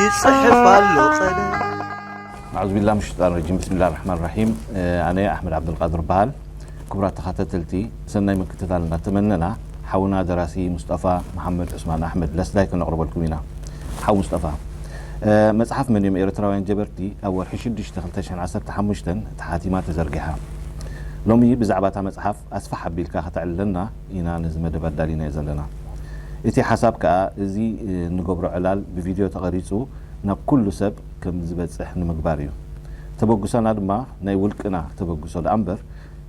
ይጽሕፍ ኣሎ ቀደም ኣዑዝ ቢላ ምን ሸጣን ረጂም ብስሚላ ራሕማን ራሒም ኣነ ኣሕመድ ዓብደልቃድር በሃል ክቡራት ተኸታተልቲ ሰናይ ምክትታል እናተመነና ሓውና ደራሲ ሙስጠፋ መሓመድ ዑስማን ኣሕመድ ለስዳይ ከነቕርበልኩም ኢና ሓው ሙስጠፋ መጽሓፍ መን እዮም ኤርትራውያን ጀበርቲ ኣብ ወርሒ 6 2015 ተሓቲማ ተዘርጊሓ ሎሚ ብዛዕባ እታ መጽሓፍ ኣስፋሕ ኣቢልካ ከተዕልለና ኢና ነዚ መደብ ኣዳሊናዮ ዘለና። እቲ ሓሳብ ከኣ እዚ እንገብሮ ዕላል ብቪድዮ ተቐሪጹ ናብ ኩሉ ሰብ ከም ዝበጽሕ ንምግባር እዩ። ተበግሶና ድማ ናይ ውልቅና ተበግሶ ደኣ እምበር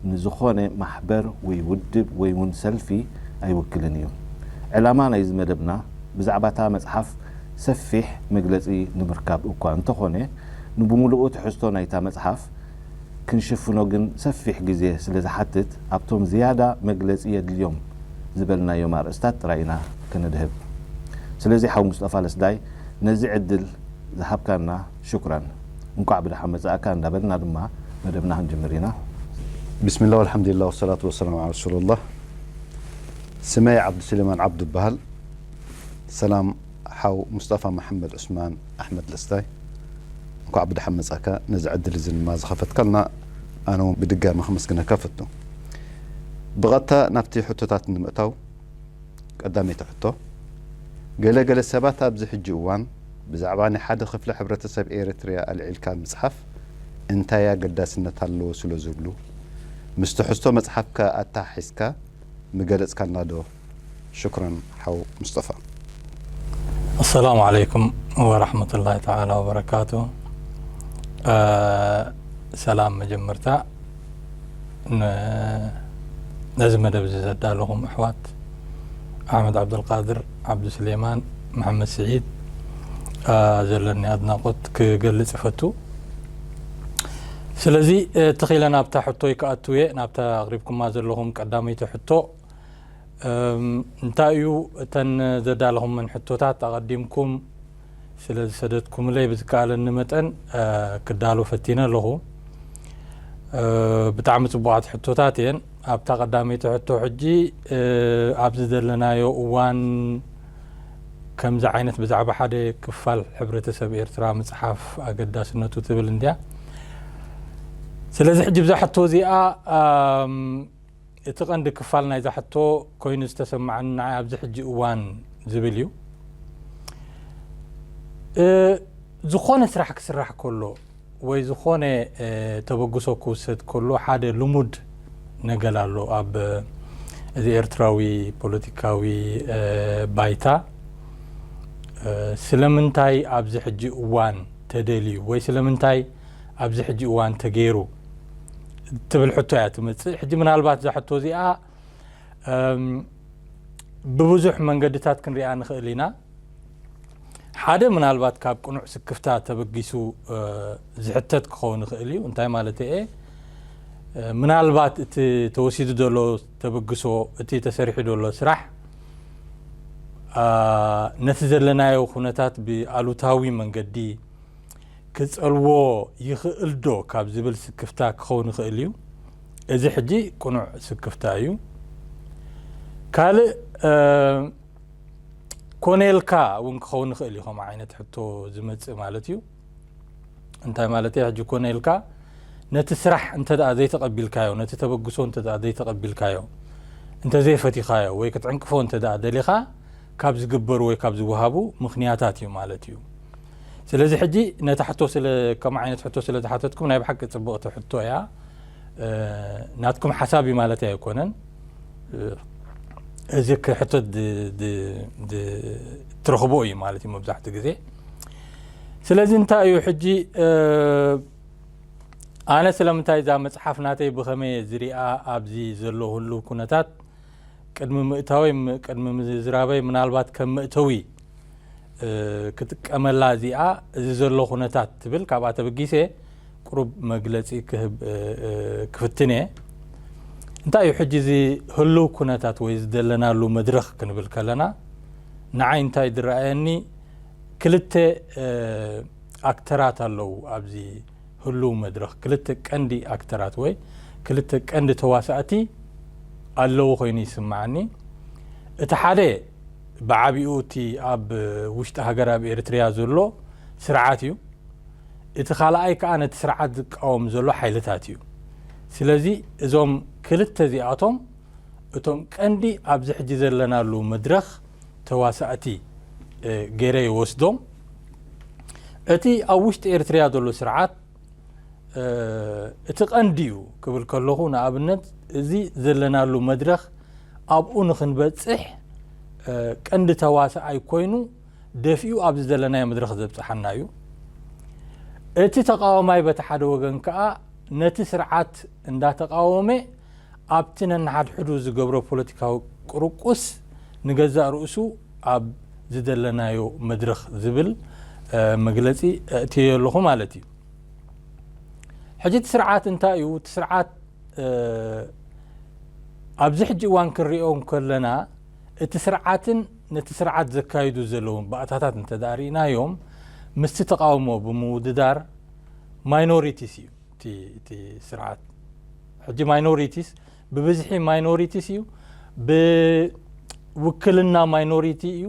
ንዝኾነ ማሕበር ወይ ውድብ ወይ ውን ሰልፊ ኣይውክልን እዩ። ዕላማ ናይዚ መደብና ብዛዕባ እታ መጽሓፍ ሰፊሕ መግለጺ ንምርካብ እኳ እንተኾነ ንብምሉኡ ትሕዝቶ ናይታ መጽሓፍ ክንሽፍኖ ግን ሰፊሕ ግዜ ስለ ዝሓትት ኣብቶም ዝያዳ መግለጺ የድልዮም ዝበልናዮም ኣርእስታት ጥራይ ኢና ከነድህብ። ስለዚ ሓው ሙስጠፋ ለስዳይ ነዚ ዕድል ዝሃብካና ሹክራን። እንቋዕ ብደሓን መጻእካ እንዳበልና ድማ መደብና ክንጅምር ኢና። ብስሚላህ ወልሓምዲላህ ወሰላቱ ወሰላም ዓላ ረሱሉላህ ስመይ ዓብዱስሌማን ዓብዱ እባሃል ሰላም ሓው ሙስጠፋ መሓመድ ዑስማን ኣሕመድ ደስታይ እንኳዕ ብደሓን መጻእካ ነዚ ዕድል እዚ ድማ ዝኸፈትካልና ኣነ ውን ብድጋሚ ከመስግነካ እፈቱ ብቐጥታ ናብቲ ሕቶታት ንምእታው ቀዳመይቲ ሕቶ ገለ ገለ ሰባት ኣብዚ ሕጂ እዋን ብዛዕባ ናይ ሓደ ክፍሊ ሕብረተሰብ ኤሪትሪያ ኣልዒልካ ምጽሓፍ እንታይ ኣገዳስነት ኣለዎ ስለ ዝብሉ ምስ ትሕዝቶ መጽሓፍካ ኣተሓሒዝካ ምገለጽካልና ዶ ሽኩረን ሓው ሙስጠፋ። ኣሰላሙ ዓለይኩም ወራህመቱላሂ ተዓላ ወበረካቱ ሰላም መጀመርታ ን ነዚ መደብ እዚ ዘዳለኹም ኣሕዋት ኣሕመድ ዓብደልቃድር ዓብዱ ስሌማን መሐመድ ስዒድ ዘለኒ ኣድናቆት ክገልጽ ይፈቱ ስለዚ ተኺለ ናብታ ሕቶይ ክኣትው እየ ናብታ ኣቕሪብኩማ ዘለኹም ቀዳመይቲ ሕቶ እንታይ እዩ እተን ዘዳለኹመን ሕቶታት ኣቐዲምኩም ስለ ዝሰደትኩምለይ ብዝከኣለኒ መጠን ክዳሎ ፈቲነ ኣለኹ። ብጣዕሚ ጽቡቓት ሕቶታት እየን። ኣብታ ቀዳመይቲ ሕቶ ሕጂ ኣብዚ ዘለናዮ እዋን ከምዚ ዓይነት ብዛዕባ ሓደ ክፋል ሕብረተሰብ ኤርትራ ምጽሓፍ ኣገዳስነቱ ትብል እንድያ። ስለዚ ሕጂ ብዛ ሕቶ እዚኣ እቲ ቀንዲ ክፋል ናይዛ ሕቶ ኮይኑ ዝተሰማዓኒ ንዓይ ኣብዚ ሕጂ እዋን ዝብል እዩ። ዝኾነ ስራሕ ክስራሕ ከሎ ወይ ዝኾነ ተበግሶ ክውሰድ ከሎ ሓደ ልሙድ ነገር ኣሎ ኣብ እዚ ኤርትራዊ ፖለቲካዊ ባይታ ስለምንታይ ኣብዚ ሕጂ እዋን ተደልዩ ወይ ስለምንታይ ኣብዚ ሕጂ እዋን ተገይሩ እትብል ሕቶ እያ ትመጽእ። ሕጂ ምናልባት እዛ ሕቶ እዚኣ ብብዙሕ መንገድታት ክንሪኣ ንኽእል ኢና። ሓደ ምናልባት ካብ ቅኑዕ ስክፍታ ተበጊሱ ዝሕተት ክኸውን ይኽእል እዩ እንታይ ማለት እየ ምናልባት እቲ ተወሲዱ ዘሎ ተበግሶ እቲ ተሰሪሑ ዘሎ ስራሕ ነቲ ዘለናዮ ኩነታት ብኣሉታዊ መንገዲ ክጸልዎ ይኽእልዶ ካብ ዝብል ስክፍታ ክኸውን ይኽእል እዩ። እዚ ሕጂ ቅኑዕ ስክፍታ እዩ። ካልእ ኮኔልካ እውን ክኸውን ይኽእል እዩ ከምኡ ዓይነት ሕቶ ዝመጽእ ማለት እዩ። እንታይ ማለት እየ ሕጂ ኮኔልካ ነቲ ስራሕ እንተ ዘይተቐቢልካዮ ነቲ ተበግሶ እንተ ዘይተቐቢልካዮ እንተዘይፈቲኻዮ ወይ ክትዕንቅፎ እንተ ደሊኻ ካብ ዝግበሩ ወይ ካብ ዝወሃቡ ምክንያታት እዩ ማለት እዩ። ስለዚ ሕጂ ነታ ሕቶ ስለ ከምኡ ዓይነት ሕቶ ስለ ዝሓተትኩም ናይ ብሓቂ ጽብቕቲ ሕቶ እያ ናትኩም ሓሳብ እዩ ማለት ኣይኮነን እዚ ክሕቶ ትረኽቦ እዩ ማለት እዩ መብዛሕትኡ ግዜ ስለዚ እንታይ እዩ ሕጂ ኣነ ስለምንታይ እዛ መፅሓፍ ናተይ ብኸመይ ዝሪኣ ኣብዚ ዘሎ ህሉ ኩነታት ቅድሚ ምእታወይ ቅድሚ ምዝራበይ ምናልባት ከም መእተዊ ክጥቀመላ እዚኣ እዚ ዘሎ ኩነታት ትብል ካብኣ ተበጊሰ ቅሩብ መግለፂ ክህብ ክፍትን እየ እንታይ እዩ ሕጂ እዚ ህልው ኩነታት ወይ ዝደለናሉ መድረኽ ክንብል ከለና ንዓይ እንታይ ዝረኣየኒ ክልተ ኣክተራት ኣለዉ ኣብዚ ህሉው መድረኽ ክልተ ቀንዲ ኣክተራት ወይ ክልተ ቀንዲ ተዋሳእቲ ኣለዉ ኮይኑ ይስመዓኒ። እቲ ሓደ ብዓቢኡ እቲ ኣብ ውሽጢ ሃገር ኣብ ኤሪትሪያ ዘሎ ስርዓት እዩ። እቲ ካልኣይ ከኣ ነቲ ስርዓት ዝቃወም ዘሎ ሓይልታት እዩ። ስለዚ እዞም ክልተ እዚኣቶም እቶም ቀንዲ ኣብዚ ሕጂ ዘለናሉ መድረኽ ተዋሳእቲ ገይረ ይወስዶም። እቲ ኣብ ውሽጢ ኤርትርያ ዘሎ ስርዓት እቲ ቀንዲ እዩ ክብል ከለኹ ንኣብነት እዚ ዘለናሉ መድረኽ ኣብኡ ንክንበፅሕ ቀንዲ ተዋሳኣይ ኮይኑ ደፊኡ ኣብዚ ዘለናዮ መድረኽ ዘብፅሓና እዩ እቲ ተቃዋማይ በቲ ሓደ ወገን ከዓ ነቲ ስርዓት እንዳተቃወመ ኣብቲ ነንሓድሕዱ ዝገብሮ ፖለቲካዊ ቅርቁስ ንገዛእ ርእሱ ኣብ ዝደለናዮ መድረኽ ዝብል መግለጺ ኣእትየዮ ኣለኹ ማለት እዩ። ሕጂ እቲ ስርዓት እንታይ እዩ? እቲ ስርዓት ኣብዚ ሕጂ እዋን ክንሪኦ ከለና እቲ ስርዓትን ነቲ ስርዓት ዘካይዱ ዘለዉ ባእታታት እንተ ርኢናዮም ምስቲ ተቓውሞ ብምውድዳር ማይኖሪቲስ እዩ። እቲ እቲ ስርዓት ሕጂ ማይኖሪቲስ ብብዝሒ ማይኖሪቲስ እዩ ብውክልና ማይኖሪቲ እዩ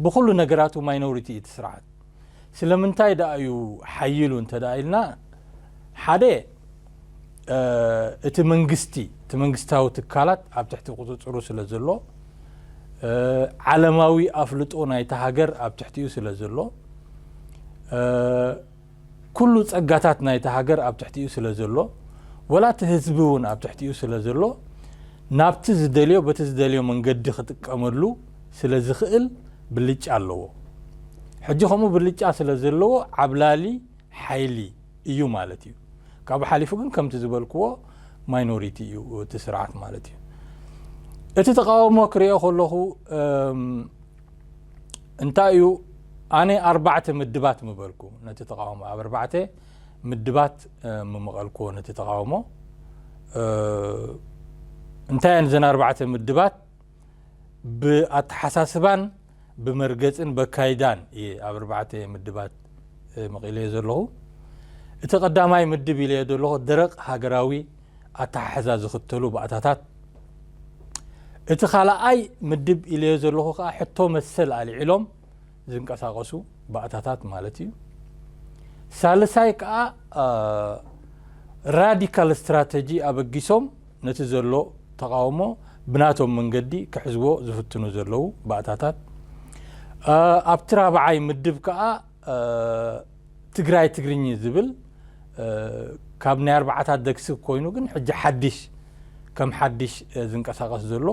ብኩሉ ነገራቱ ማይኖሪቲ እዩ እቲ ስርዓት ስለምንታይ ደኣ እዩ ሓይሉ እንተ ኢልና ሓደ እቲ መንግስቲ እቲ መንግስታዊ ትካላት ኣብ ትሕቲ ቁፅፅሩ ስለ ዘሎ ዓለማዊ ኣፍልጦ ናይቲ ሃገር ኣብ ትሕቲኡ ስለ ዘሎ ኩሉ ፀጋታት ናይቲ ሃገር ኣብ ትሕቲኡ ስለ ዘሎ ወላ እቲ ህዝቢ እውን ኣብ ትሕቲኡ ስለ ዘሎ ናብቲ ዝደልዮ በቲ ዝደልዮ መንገዲ ክጥቀመሉ ስለ ዝኽእል ብልጫ ኣለዎ ሕጂ ከምኡ ብልጫ ስለ ዘለዎ ዓብላሊ ሓይሊ እዩ ማለት እዩ። ካብኡ ሓሊፉ ግን ከምቲ ዝበልክዎ ማይኖሪቲ እዩ እቲ ስርዓት ማለት እዩ። እቲ ተቃውሞ ክሪኦ ከለኹ እንታይ እዩ ኣነ ኣርባዕተ ምድባት ምበልኩ ነቲ ተቃውሞ ኣብ ኣርባዕተ ምድባት ምመቐልክዎ ነቲ ተቃውሞ እንታይ እየን እዘን ኣርባዕተ ምድባት ብኣተሓሳስባን ብመርገጽን በካይዳን እየ ኣብ ኣርባዕተ ምድባት መቒለዮ ዘለኹ። እቲ ቀዳማይ ምድብ ኢለዮ ዘለኹ ደረቕ ሃገራዊ ኣተሓሕዛ ዝኽተሉ ባእታታት፣ እቲ ካልኣይ ምድብ ኢለዮ ዘለኹ ከኣ ሕቶ መሰል ኣልዒሎም ዝንቀሳቐሱ ባእታታት ማለት እዩ። ሳልሳይ ከኣ ራዲካል ስትራተጂ ኣበጊሶም ነቲ ዘሎ ተቓውሞ ብናቶም መንገዲ ክሕዝዎ ዝፍትኑ ዘለዉ ባእታታት፣ ኣብቲ ራብዓይ ምድብ ከኣ ትግራይ ትግርኚ ዝብል ካብ ናይ ኣርብዓታት ዘግስግ ኮይኑ ግን ሕጂ ሓዲሽ ከም ሓዲሽ ዝንቀሳቐስ ዘሎ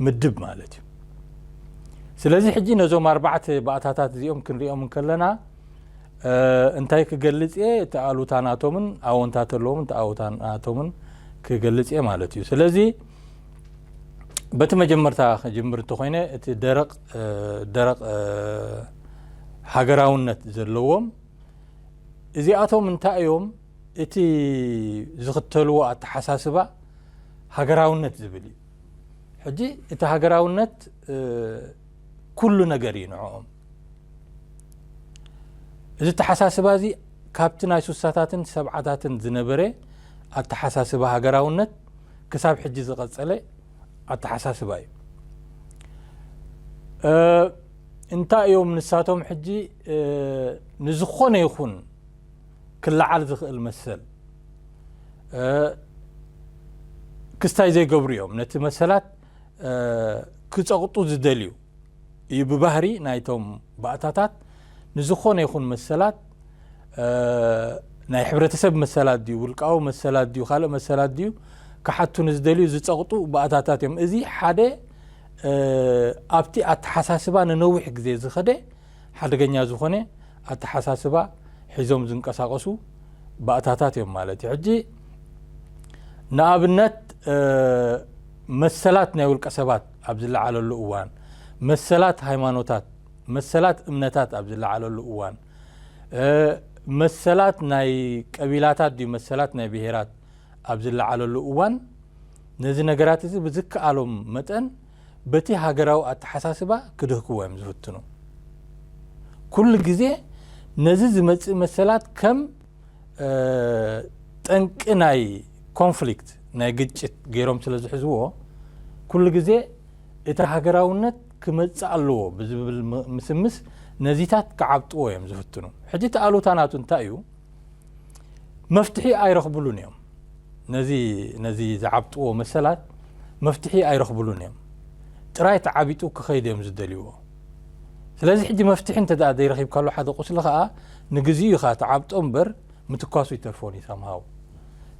ምድብ ማለት እዩ። ስለዚ ሕጂ ነዞም ኣርባዕተ ባእታታት እዚኦም ክንሪኦም እንከለና፣ እንታይ ክገልጽ እየ እቲ ኣሉታ ናቶምን ኣወንታ ተለዎምን እቲ ኣወታ ናቶምን ክገልጽ እየ ማለት እዩ ስለዚ በቲ መጀመርታ ክጅምር እንተኮይነ እቲ ደረቕ ደረቕ ሃገራውነት ዘለዎም እዚኣቶም እንታይ እዮም እቲ ዝኽተልዎ ኣተሓሳስባ ሃገራውነት ዝብል እዩ ሕጂ እቲ ሃገራውነት ኩሉ ነገር እዩ ንዕኦም እዚ ኣተሓሳስባ እዚ ካብቲ ናይ ሱሳታትን ሰብዓታትን ዝነበረ ኣተሓሳስባ ሃገራውነት ክሳብ ሕጂ ዝቐጸለ ኣተሓሳስባ እዩ እንታይ እዮም ንሳቶም ሕጂ ንዝኾነ ይኹን ክለዓል ዝኽእል መሰል ክስታይ ዘይገብሩ እዮም ነቲ መሰላት ክጸቕጡ ዝደልዩ እዩ ብባህሪ ናይቶም ባእታታት ንዝኾነ ይኹን መሰላት ናይ ሕብረተሰብ መሰላት ድዩ ውልቃዊ መሰላት ድዩ ካልእ መሰላት ድዩ ክሓቱ ንዝደልዩ ዝፀቕጡ ባእታታት እዮም እዚ ሓደ ኣብቲ ኣተሓሳስባ ንነዊሕ ግዜ ዝኸደ ሓደገኛ ዝኾነ ኣተሓሳስባ ሒዞም ዝንቀሳቀሱ ባእታታት እዮም ማለት እዩ ሕጂ ንኣብነት መሰላት ናይ ውልቀ ሰባት ኣብ ዝለዓለሉ እዋን፣ መሰላት ሃይማኖታት፣ መሰላት እምነታት ኣብ ዝለዓለሉ እዋን፣ መሰላት ናይ ቀቢላታት ድዩ መሰላት ናይ ብሄራት ኣብ ዝለዓለሉ እዋን፣ ነዚ ነገራት እዚ ብዝከኣሎም መጠን በቲ ሃገራዊ ኣተሓሳስባ ክድህክዎ እዮም ዝፍትኑ። ኩሉ ግዜ ነዚ ዝመጽእ መሰላት ከም ጠንቂ ናይ ኮንፍሊክት ናይ ግጭት ገይሮም ስለ ዝሕዝዎ ኩሉ ግዜ እቲ ሃገራውነት ክመጽእ ኣለዎ ብዝብል ምስምስ ነዚታት ክዓብጥዎ እዮም ዝፍትኑ ሕጂ እቲ ኣሉታ ናቱ እንታይ እዩ መፍትሒ ኣይረኽብሉን እዮም ነዚ ነዚ ዝዓብጥዎ መሰላት መፍትሒ ኣይረኽብሉን እዮም ጥራይ ተዓቢጡ ክኸይድ እዮም ዝደልይዎ ስለዚ ሕጂ መፍትሒ እንተ ዘይረኺብካሉ ሓደ ቁስሊ ከዓ ንግዚኡ ኢኻ ትዓብጦ እምበር ምትኳሱ ይተርፎን እዩ ሳምሃው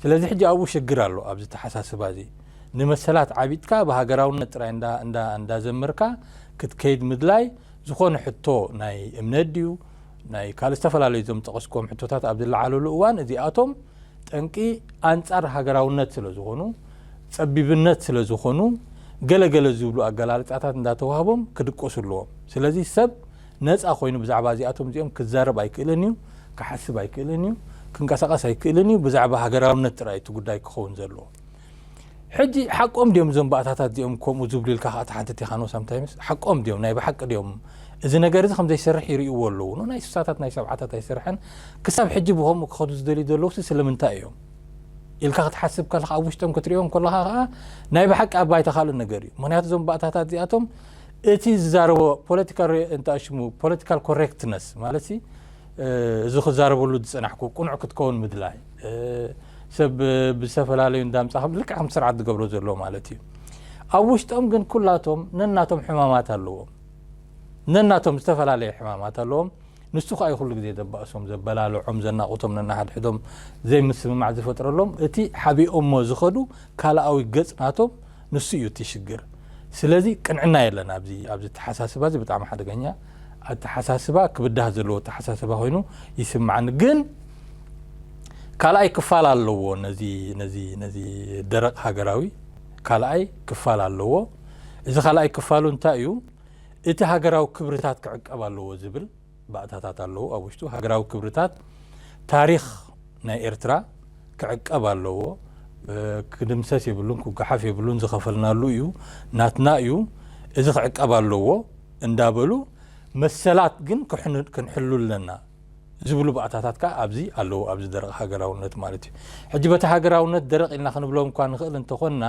ስለዚ ሕጂ ኣብኡ ሽግር ኣሎ ኣብዚ ኣተሓሳስባ እዚ ንመሰላት ዓቢጥካ ብሃገራውነት ጥራይ እንዳ እንዳ እንዳዘመርካ ክትከይድ ምድላይ ዝኾነ ሕቶ ናይ እምነት ድዩ ናይ ካልእ ዝተፈላለዩ እዞም ዝጠቐስክዎም ሕቶታት ኣብ ዝለዓለሉ እዋን እዚኣቶም ጠንቂ ኣንጻር ሃገራውነት ስለ ዝኾኑ ጸቢብነት ስለ ዝኾኑ ገለ ገለ ዝብሉ ኣገላልጻታት እንዳተዋህቦም ክድቆሱ ኣለዎም ስለዚ ሰብ ነጻ ኮይኑ ብዛዕባ እዚኣቶም እዚኦም ክዛረብ ኣይክእልን እዩ፣ ክሓስብ ኣይክእልን እዩ፣ ክንቀሳቐስ ኣይክእልን እዩ፣ ብዛዕባ ሃገራውነት ጥራይ እዩ እቲ ጉዳይ ክኸውን ዘለዎ። ሕጂ ሓቆም ድዮም እዞም ባእታታት እዚኦም ከምኡ ዝብሉ ኢልካ ከኣ ትሓትት ኢኻ ን ሳምታይምስ ሓቆም ድዮም ናይ ብሓቂ ድዮም እዚ ነገር እዚ ከም ዘይሰርሕ ይርእይዎ ኣለዉ ን ናይ ስሳታት ናይ ሰብዓታት ኣይሰርሐን ክሳብ ሕጂ ብከምኡ ክኸዱ ዝደልዩ ዘለውሲ ስለምንታይ እዮም ኢልካ ክትሓስብ ከለካ ኣብ ውሽጦም ክትሪኦም ከለካ ከኣ ናይ ብሓቂ ኣብ ባይታ ካልእ ነገር እዩ ምክንያቱ እዞም ባእታታት እዚኣቶም እቲ ዝዛረቦ ፖለቲካ ርእ እንተ ኣሽሙ ፖለቲካል ኮሬክትነስ ማለትሲ እዚ ክዛረበሉ ዝጸናሕኩ ቅኑዕ ክትከውን ምድላይ ሰብ ብዝተፈላለዩ እንዳምጻ ልክዕ ከም ስርዓት ዝገብሮ ዘሎ ማለት እዩ ኣብ ውሽጦም ግን ኩላቶም ነናቶም ሕማማት ኣለዎም ነናቶም ዝተፈላለየ ሕማማት ኣለዎም ንሱ ከዓ ኩሉ ግዜ ዘባእሶም ዘበላልዖም ዘናቑቶም ነናሓድሕዶም ዘይምስምማዕ ዝፈጥረሎም እቲ ሓቢኦሞ ዝኸዱ ካልኣዊ ገጽ ናቶም ንሱ እዩ እቲ ሽግር ስለዚ ቅንዕና የለን ኣብዚ ኣብዚ ኣተሓሳስባ እዚ ብጣዕሚ ሓደገኛ ኣተሓሳስባ ክብዳህ ዘለዎ ኣተሓሳስባ ኮይኑ ይስምዓኒ ግን ካልኣይ ክፋል ኣለዎ ነዚ ነዚ ነዚ ደረቕ ሃገራዊ ካልኣይ ክፋል ኣለዎ እዚ ካልኣይ ክፋሉ እንታይ እዩ እቲ ሃገራዊ ክብርታት ክዕቀብ ኣለዎ ዝብል ባእታታት ኣለዉ ኣብ ውሽጡ ሃገራዊ ክብርታት ታሪኽ ናይ ኤርትራ ክዕቀብ ኣለዎ ክድምሰስ የብሉን ክጓሓፍ የብሉን ዝኸፈልናሉ እዩ ናትና እዩ እዚ ክዕቀብ ኣለዎ እንዳበሉ መሰላት ግን ክንሕሉ ኣለና ዝብሉ ባእታታት ከዓ ኣብዚ ኣለዎ ኣብዚ ደረቕ ሃገራውነት ማለት እዩ ሕጂ በቲ ሃገራውነት ደረቕ ኢልና ክንብሎም እኳ ንኽእል እንተኾንና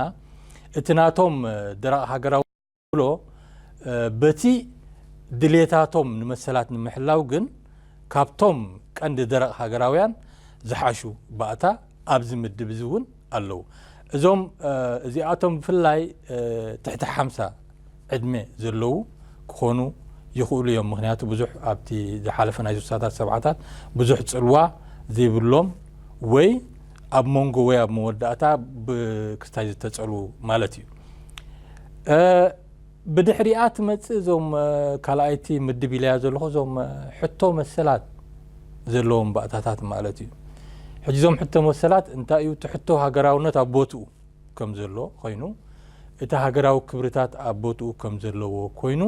እቲ ናቶም ደረቕ ሃገራዊ ብሎ በቲ ድሌታቶም ንመሰላት ንምሕላው ግን ካብቶም ቀንዲ ደረቕ ሃገራውያን ዝሓሹ ባእታ ኣብዚ ምድብ እዚ እውን ኣለዉ። እዞም እዚኣቶም ብፍላይ ትሕቲ ሓምሳ ዕድመ ዘለዉ ክኾኑ ይኽእሉ እዮም። ምክንያቱ ብዙሕ ኣብቲ ዝሓለፈ ናይ ስሳታት ሰብዓታት ብዙሕ ጽልዋ ዘይብሎም ወይ ኣብ መንጎ ወይ ኣብ መወዳእታ ብክስታይ ዝተጸሉ ማለት እዩ። ብድሕሪኣ ትመጽእ እዞም ካልኣይቲ ምድብ ኢለያ ዘለኹ እዞም ሕቶ መሰላት ዘለዎም ባእታታት ማለት እዩ። ሕጂ እዞም ሕቶ መሰላት እንታይ እዩ እቲ ሕቶ ሃገራውነት ኣብ ቦትኡ ከም ዘሎ ኮይኑ እቲ ሃገራዊ ክብርታት ኣብ ቦትኡ ከም ዘለዎ ኮይኑ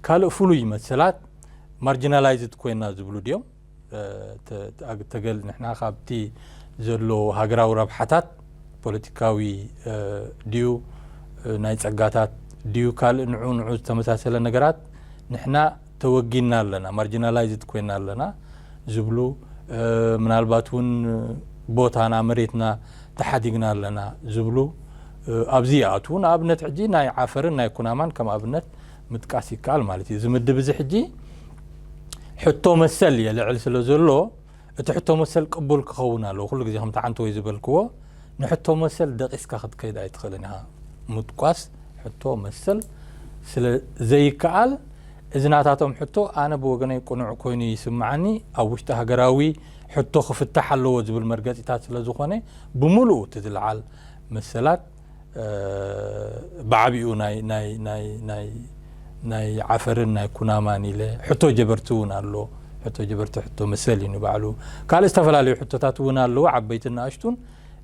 ካልእ ፍሉይ መሰላት ማርጂናላይዝድ ኮይና ዝብሉ ድዮም ተገል ንሕና ካብቲ ዘሎ ሃገራዊ ረብሓታት ፖለቲካዊ ድዩ ናይ ጸጋታት ድዩ ካልእ ንዑ ንዑ ዝተመሳሰለ ነገራት ንሕና ተወጊና ኣለና ማርጂናላይዝድ ኮይና ኣለና ዝብሉ ምናልባት እውን ቦታና መሬትና ተሓዲግና ኣለና ዝብሉ ኣብዚ ይኣትዉ ንኣብነት ሕጂ ናይ ዓፈርን ናይ ኩናማን ከም ኣብነት ምጥቃስ ይከኣል ማለት እዩ። እዚ ምድብ እዚ ሕጂ ሕቶ መሰል የልዕል ስለ ዘሎ እቲ ሕቶ መሰል ቅቡል ክኸውን ኣለዎ። ኩሉ ግዜ ከምቲ ሓንቲ ወይ ዝበልክዎ ንሕቶ መሰል ደቂስካ ክትከይድ ኣይትኽእልን ኢኻ። ምጥቋስ ሕቶ መሰል ስለ ዘይከኣል እዚ ናታቶም ሕቶ ኣነ ብወገነይ ቅኑዕ ኮይኑ ይስምዓኒ ኣብ ውሽጢ ሃገራዊ ሕቶ ክፍታሕ ኣለዎ ዝብል መርገጺታት ስለ ዝኾነ ብምሉኡ እቲ ዝለዓል መሰላት ብዓቢኡ ናይ ናይ ናይ ናይ ናይ ዓፈርን ናይ ኩናማን ኢለ ሕቶ ጀበርቲ እውን ኣሎ ሕቶ ጀበርቲ ሕቶ መሰል እዩ ንባዕሉ ካልእ ዝተፈላለዩ ሕቶታት እውን ኣለዎ ዓበይትን ንኣሽቱን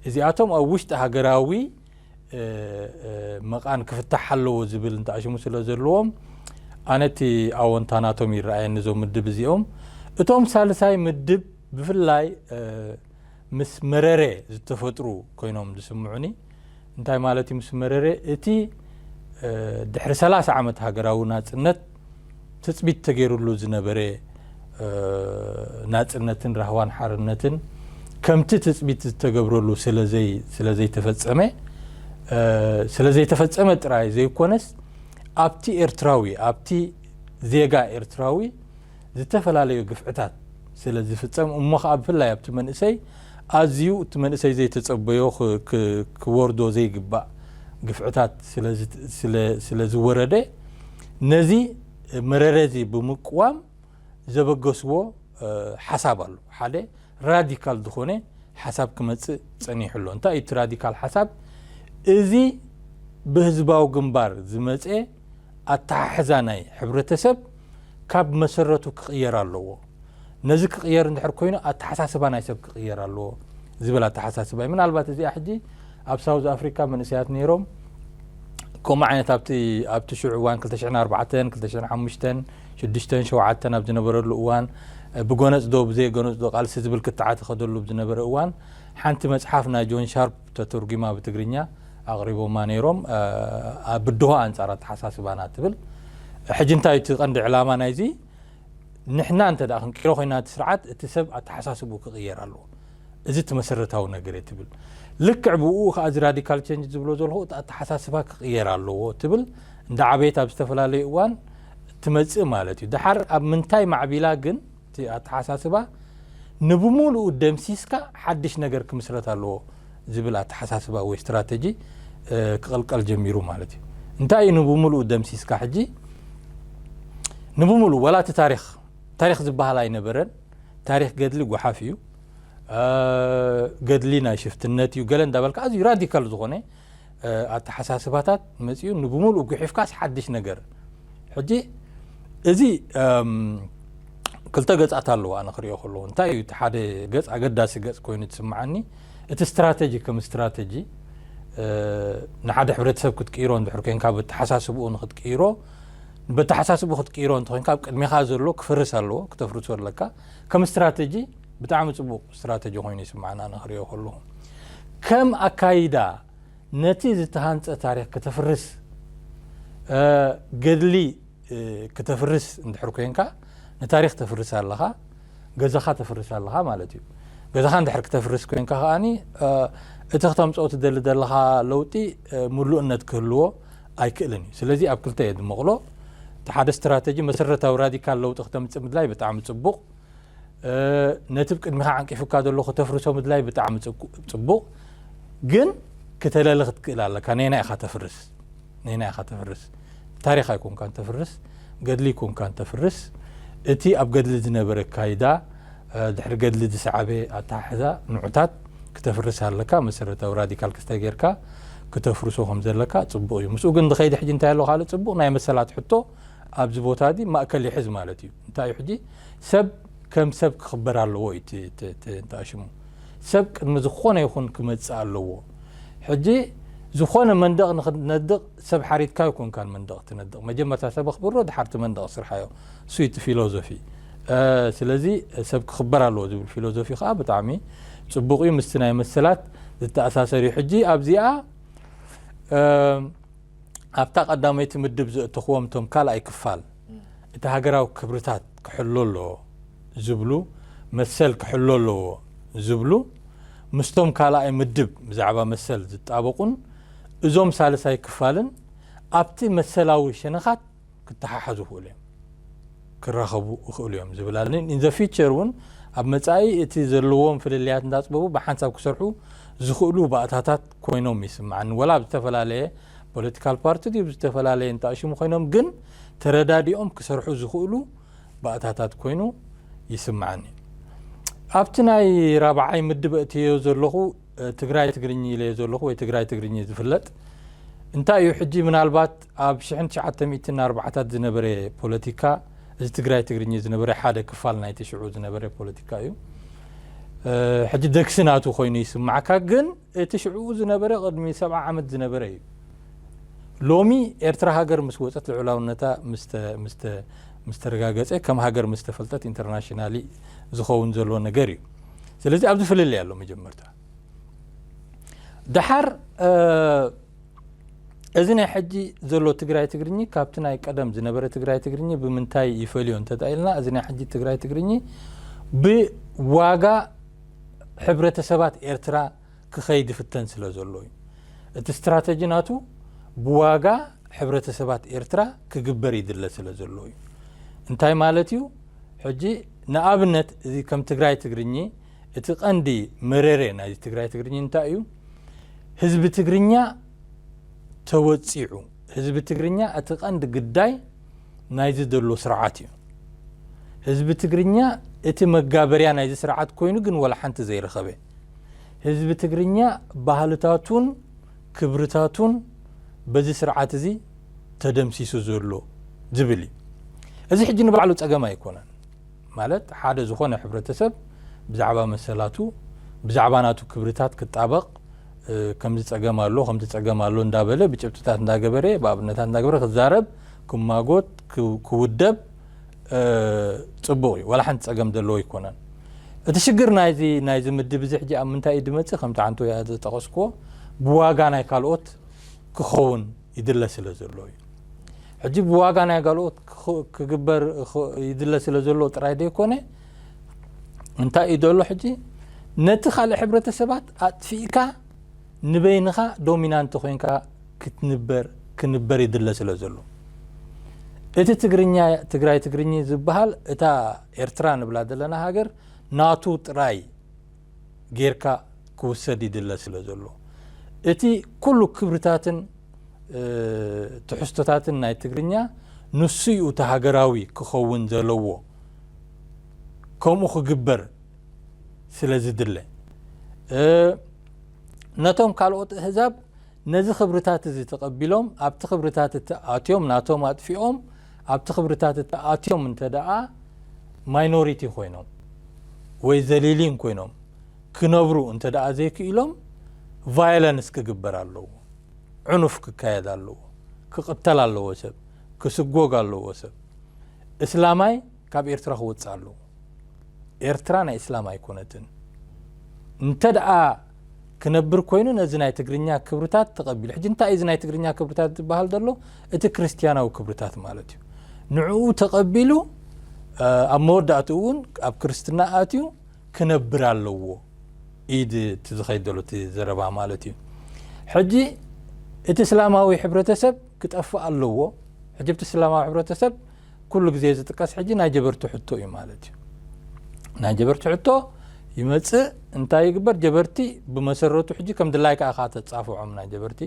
እዚኣቶም ኣብ ውሽጢ ሃገራዊ መቓን ክፍታሕ ኣለዎ ዝብል እንተኣሽሙ ስለ ዘለዎም ኣነ እቲ ኣወንታ ናቶም ይረኣየኒ እዞም ምድብ እዚኦም እቶም ሳልሳይ ምድብ ብፍላይ ምስ መረሬ ዝተፈጥሩ ኮይኖም ዝስምዑኒ እንታይ ማለት እዩ ምስ መረሬ እቲ ድሕሪ ሰላሳ ዓመት ሃገራዊ ናጽነት ትጽቢት ተገይርሉ ዝነበረ ናጽነትን ራህዋን ሓርነትን ከምቲ ትጽቢት ዝተገብረሉ ስለዘይተፈጸመ ስለዘይተፈጸመ ጥራይ ዘይኮነስ ኣብቲ ኤርትራዊ ኣብቲ ዜጋ ኤርትራዊ ዝተፈላለዩ ግፍዕታት ስለ ዝፍጸም እሞ ከኣ ብፍላይ ኣብቲ መንእሰይ ኣዝዩ እቲ መንእሰይ ዘይተጸበዮ ክወርዶ ዘይግባእ ግፍዕታት ስለ ዝወረደ ነዚ መረረ እዚ ብምቅዋም ዘበገስዎ ሓሳብ ኣሎ። ሓደ ራዲካል ዝኾነ ሓሳብ ክመጽእ ጸኒሑ ኣሎ። እንታይ እዩ እቲ ራዲካል ሓሳብ? እዚ ብህዝባዊ ግንባር ዝመጸ ኣተሓሕዛ ናይ ሕብረተሰብ ካብ መሰረቱ ክቕየር ኣለዎ። ነዚ ክቕየር እንድሕር ኮይኑ ኣተሓሳስባ ናይ ሰብ ክቕየር ኣለዎ ዝብል ኣተሓሳስባ እዩ። ምናልባት እዚኣ ሕጂ ኣብ ሳውዝ ኣፍሪካ መንእሰያት ነይሮም ከምኡ ዓይነት ኣብቲ ኣብቲ ሽዑ እዋን 2004 2005 ሽዱሽተን ሸውዓተን ኣብ ዝነበረሉ እዋን ብጎነጽ ዶ ብዘይጎነጽ ዶ ቃልሲ ዝብል ክትዓት ኸደሉ ዝነበረ እዋን ሓንቲ መጽሓፍ ናይ ጆን ሻርፕ ተተርጒማ ብትግርኛ ኣቕሪቦማ ነይሮም ኣ ብድሆ ኣንጻር ኣተሓሳስባና ትብል ሕጂ እንታይ እቲ ቀንዲ ዕላማ ናይዚ ንሕና እንተ ክንቅይሮ ኮይና እቲ ስርዓት እቲ ሰብ ኣተሓሳስቡ ክቕየር ኣለዎ እዚ እቲ መሰረታዊ ነገር እየ ትብል ልክዕ ብኡ ከዓ እዚ ራዲካል ቸንጅ ዝብሎ ዘለኹ እቲ ኣተሓሳስባ ክቕየር ኣለዎ ትብል እንዳ ዓበየት ኣብ ዝተፈላለዩ እዋን ትመጽእ ማለት እዩ ድሓር ኣብ ምንታይ ማዕቢላ ግን እቲ ኣተሓሳስባ ንብሙሉኡ ደምሲስካ ሓድሽ ነገር ክምስረት ኣለዎ ዝብል ኣተሓሳስባ ወይ ስትራተጂ ክቕልቀል ጀሚሩ ማለት እዩ። እንታይ እዩ ንብሙሉኡ ደምሲስካ ሕጂ ንብሙሉኡ ወላ እቲ ታሪኽ ታሪኽ ዝበሃል ኣይነበረን። ታሪኽ ገድሊ ጓሓፍ እዩ። ገድሊ ናይ ሽፍትነት እዩ ገለ እንዳበልካ ኣዝዩ ራዲካል ዝኾነ ኣተሓሳስባታት መፅኡ ንብምሉእ ጉሒፍካስ ሓድሽ ነገር ሕጂ እዚ ክልተ ገፃት ኣለዎ ኣነ ክሪኦ ከለዎ እንታይ እዩ እቲ ሓደ ገፅ ኣገዳሲ ገፅ ኮይኑ ትስምዓኒ እቲ ስትራተጂ ከም ስትራተጂ ንሓደ ሕብረተሰብ ክትቅይሮ እንድሕር ኮንካ በተሓሳስብኡ ንክትቅይሮ በተሓሳስብኡ ክትቅይሮ እንተኮንካ ኣብ ቅድሜኻ ዘሎ ክፈርስ ኣለዎ ክተፍርሶ ኣለካ ከም ስትራተጂ ብጣዕሚ ጽቡቅ ስትራተጂ ኮይኑ ይስማዕና ኣነ ክሪኦ ከለኩ ከም ኣካይዳ ነቲ ዝተሃንጸ ታሪክ ክተፍርስ ገድሊ ክተፍርስ እንድሕር ኮንካ ንታሪክ ተፍርስ ኣለካ ገዛካ ተፍርስ ኣለካ ማለት እዩ ገዛካ እንድሕር ክተፍርስ ኮንካ ከኣኒ እቲ ክተምጽኦ ትደሊ ዘለካ ለውጢ ምሉእነት ክህልዎ ኣይክእልን እዩ ስለዚ ኣብ ክልተ እየ ድመቕሎ እቲ ሓደ ስትራተጂ መሰረታዊ ራዲካል ለውጢ ክተምጽእ ምድላይ ብጣዕሚ ጽቡቕ ነቲ ብ ቅድሚኻ ዓንቂፉካ ዘሎ ክተፍርሶ ምድላይ ብጣዕሚ ጽቡቕ ግን ክተለሊ ክትክእል ኣለካ ነና ኢኻ ተፍርስ ነና ኢኻ ተፍርስ ታሪኽ ኣይኮንካ ተፍርስ ገድሊ ይኮንካ ተፍርስ እቲ ኣብ ገድሊ ዝነበረ ካይዳ ድሕሪ ገድሊ ዝሰዓበ ኣተሓሕዛ ንዑታት ክተፍርስ ኣለካ መሰረታዊ ራዲካል ክስተ ጌርካ ክተፍርሶ ከም ዘለካ ጽቡቕ እዩ ምስኡ ግን ዝኸይዲ ሕጂ እንታይ ኣሎ ካልእ ጽቡቕ ናይ መሰላት ሕቶ ኣብዚ ቦታ እዚ ማእከል ይሕዝ ማለት እዩ እንታይ እዩ ሕጂ ሰብ ከም ሰብ ክኽበር ኣለዎ እዩ እቲ- እቲ- እቲ እንታ ሽሙ ሰብ ቅድሚ ዝኾነ ይኹን ክመጽእ ኣለዎ ሕጂ ዝኾነ መንደቕ ንኽትነድቕ ሰብ ሓሪድካ ኣይኮንካን መንደቕ ትነድቕ መጀመርታ ሰብ ኣኽብሮ ድሓር እቲ መንደቕ ስርሓዮ እሱ እዩ እቲ ፊሎዞፊ እ፣ ስለዚ ሰብ ክኽበር ኣለዎ ዝብል ፊሎዞፊ ከኣ ብጣዕሚ ጽቡቕ እዩ ምስቲ ናይ መሰላት ዝተኣሳሰር እዩ ሕጂ ኣብዚኣ እ፣ ኣብታ ቀዳመይቲ ምድብ ዘእተኹዎም እቶም ካልኣይ ክፋል እቲ ሃገራዊ ክብርታት ክሕሎ ኣለዎ ዝብሉ መሰል ክሕሎ ኣለዎ ዝብሉ ምስቶም ካልኣይ ምድብ ብዛዕባ መሰል ዝጣበቑን እዞም ሳልሳይ ክፋልን ኣብቲ መሰላዊ ሸነኻት ክተሓሓዙ ይኽእሉ እዮም ክራኸቡ ይኽእሉ እዮም ዝብል ኣሎ ኢን ዘ ፊቸር እውን ኣብ መጻኢ እቲ ዘለዎም ፍልልያት እንዳጽበቡ ብሓንሳብ ክሰርሑ ዝኽእሉ ባእታታት ኮይኖም ይስምዓኒ ወላ ኣብ ዝተፈላለየ ፖለቲካል ፓርቲ ድዩ ብዝተፈላለየ እንተኣሽሙ ኮይኖም ግን ተረዳዲኦም ክሰርሑ ዝኽእሉ ባእታታት ኮይኑ ይስምዓኒ ኣብቲ ናይ ራብዓይ ምድብ እትዮ ዘለኹ ትግራይ ትግርኝ ኢለዮ ዘለኹ ወይ ትግራይ ትግርኝ ዝፍለጥ እንታይ እዩ ሕጂ ምናልባት ኣብ ሽሕን ትሽዓተ ሚእትን ኣርባዓታት ዝነበረ ፖለቲካ እዚ ትግራይ ትግርኚ ዝነበረ ሓደ ክፋል ናይቲ ሽዑ ዝነበረ ፖለቲካ እዩ። ሕጂ ደግሲ ናቱ ኮይኑ ይስማዕካ ግን እቲ ሽዑኡ ዝነበረ ቅድሚ ሰብዓ ዓመት ዝነበረ እዩ። ሎሚ ኤርትራ ሃገር ምስ ወጸት ልዑላውነታ ምስ ተረጋገጸ ከም ሃገር ምስ ተፈልጠት ኢንተርናሽናሊ ዝኸውን ዘሎ ነገር እዩ። ስለዚ ኣብዚ ፍልልይ ኣሎ መጀመርታ ደሓር እዚ ናይ ሕጂ ዘሎ ትግራይ ትግርኚ ካብቲ ናይ ቀደም ዝነበረ ትግራይ ትግርኚ ብምንታይ ይፈልዮ እንተኢልና እዚ ናይ ሕጂ ትግራይ ትግርኚ ብዋጋ ሕብረተሰባት ኤርትራ ክኸይድ ይፍተን ስለ ዘሎ እዩ እቲ ስትራተጂ ናቱ ብዋጋ ሕብረተሰባት ኤርትራ ክግበር ይድለ ስለ ዘሎ እዩ እንታይ ማለት እዩ ሕጂ ንኣብነት እዚ ከም ትግራይ ትግርኚ እቲ ቀንዲ መረሬ ናይ ትግራይ ትግርኚ እንታይ እዩ? ህዝቢ ትግርኛ ተወጺዑ። ህዝቢ ትግርኛ እቲ ቀንዲ ግዳይ ናይዚ ዘሎ ስርዓት እዩ። ህዝቢ ትግርኛ እቲ መጋበርያ ናይዚ ስርዓት ኮይኑ ግን ዋላ ሓንቲ ዘይረኸበ። ህዝቢ ትግርኛ ባህልታቱን ክብርታቱን በዚ ስርዓት እዚ ተደምሲሱ ዘሎ ዝብል እዩ። እዚ ሕጂ ንባዕሉ ጸገም ኣይኮነን። ማለት ሓደ ዝኾነ ሕብረተሰብ ብዛዕባ መሰላቱ ብዛዕባ ናቱ ክብርታት ክጣበቕ ከምዚ ጸገም ኣሎ ከምዚ ጸገም ኣሎ እንዳበለ ብጭብጥታት እንዳገበረ ብኣብነታት እንዳገበረ ክዛረብ ክማጎት ክውደብ ጽቡቕ እዩ ዋላ ሓንቲ ጸገም ዘለዎ ኣይኮነን እቲ ሽግር ናይዚ ናይዚ ምድብ እዚ ሕጂ ኣብ ምንታይ እዩ ድመጽእ ከምቲ ሓንቲ ወያ ዝጠቐስክዎ ብዋጋ ናይ ካልኦት ክኸውን ይድለ ስለ ዘሎ እዩ። ሕጂ ብዋጋ ናይ ጋልኦት ክግበር ይድለ ስለ ዘሎ ጥራይ ዘይኮነ እንታይ እዩ ዘሎ ሕጂ ነቲ ካልእ ሕብረተሰባት ኣጥፊእካ ንበይንኻ ዶሚናንት ኮንካ ክትንበር ክንበር ይድለ ስለ ዘሎ እቲ ትግርኛ ትግራይ ትግርኚ ዝበሃል እታ ኤርትራ ንብላ ዘለና ሃገር ናቱ ጥራይ ጌርካ ክውሰድ ይድለ ስለ ዘሎ፣ እቲ ኩሉ ክብርታትን ትሕዝቶታትን ናይ ትግርኛ ንሱ'ዩ እቲ ሃገራዊ ክኸውን ዘለዎ፣ ከምኡ ክግበር ስለ ዝድለ። ነቶም ካልኦት እህዛብ ነዚ ክብርታት እዚ ተቐቢሎም ኣብቲ ክብርታት እቲ ኣትዮም ናቶም ኣጥፊኦም፣ ኣብቲ ክብርታት እቲ ኣትዮም እንተደኣ ማይኖሪቲ ኮይኖም ወይ ዘሊሊን ኮይኖም ክነብሩ እንተደኣ ዘይክኢሎም ቫዮለንስ ክግበር ኣለዎ። ዕኑፍ ክካየድ ኣለዎ። ክቕተል ኣለዎ ሰብ። ክስጎግ ኣለዎ ሰብ። እስላማይ ካብ ኤርትራ ክወጽእ ኣለዎ ኤርትራ ናይ እስላም ኣይኮነትን እንተ ክነብር ኮይኑ ነዚ ናይ ትግርኛ ክብርታት ተቐቢሉ ሕጂ እንታይ እዩ እዚ ናይ ትግርኛ ክብርታት ዝበሃል ዘሎ እቲ ክርስትያናዊ ክብርታት ማለት እዩ ንዕኡ ተቐቢሉ ኣብ መወዳእትኡ እውን ኣብ ክርስትና ኣትዩ ክነብር ኣለዎ ኢድ እቲ ዝኸይድ ዘሎ እቲ ዘረባ ማለት እዩ ሕጂ እቲ እስላማዊ ሕብረተሰብ ክጠፍእ ኣለዎ ሕጂ እቲ እስላማዊ ሕብረተሰብ ኩሉ ግዜ ዝጥቀስ ሕጂ ናይ ጀበርቲ ሕቶ እዩ ማለት እዩ ናይ ጀበርቲ ሕቶ ይመጽእ እንታይ ይግበር ጀበርቲ ብመሰረቱ ሕጂ ከም ድላይ ከዓ ከዓ ተጻፍዖም ናይ ጀበርቲ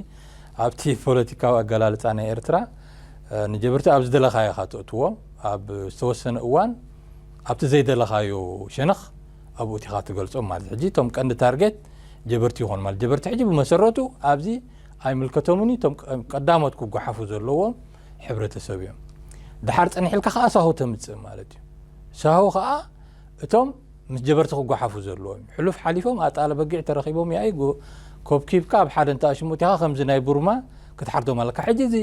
ኣብቲ ፖለቲካዊ ኣገላልፃ ናይ ኤርትራ ንጀበርቲ ኣብ ዝደለኻዮ ኢኻ ተእትዎ ኣብ ዝተወሰነ እዋን ኣብቲ ዘይደለኻዮ ሸነኽ ኣብኡ እቲኻ ትገልጾም ማለት ሕጂ እቶም ቀንዲ ታርጌት ጀበርቲ ይኾኑ ማለት ጀበርቲ ሕጂ ብመሰረቱ ኣብዚ ኣይምልከቶምን እዩ እቶም ቀዳሞት ክጓሓፉ ዘለዎም ሕብረተሰብ እዮም ድሓር ፀኒሕ ኢልካ ከዓ ሳሆ ተምፅእ ማለት እዩ ሳሆ ከዓ እቶም ምስ ጀበርቲ ክጓሓፉ ዘለዎም እዩ ሕሉፍ ሓሊፎም ኣጣለ በጊዕ ተረኪቦም ያኢ ኮብኪብካ ኣብ ሓደ እንተ ኣሽሙት ኢኻ ከምዚ ናይ ቡርማ ክትሓርዶም ኣለካ ሕጂ እዚ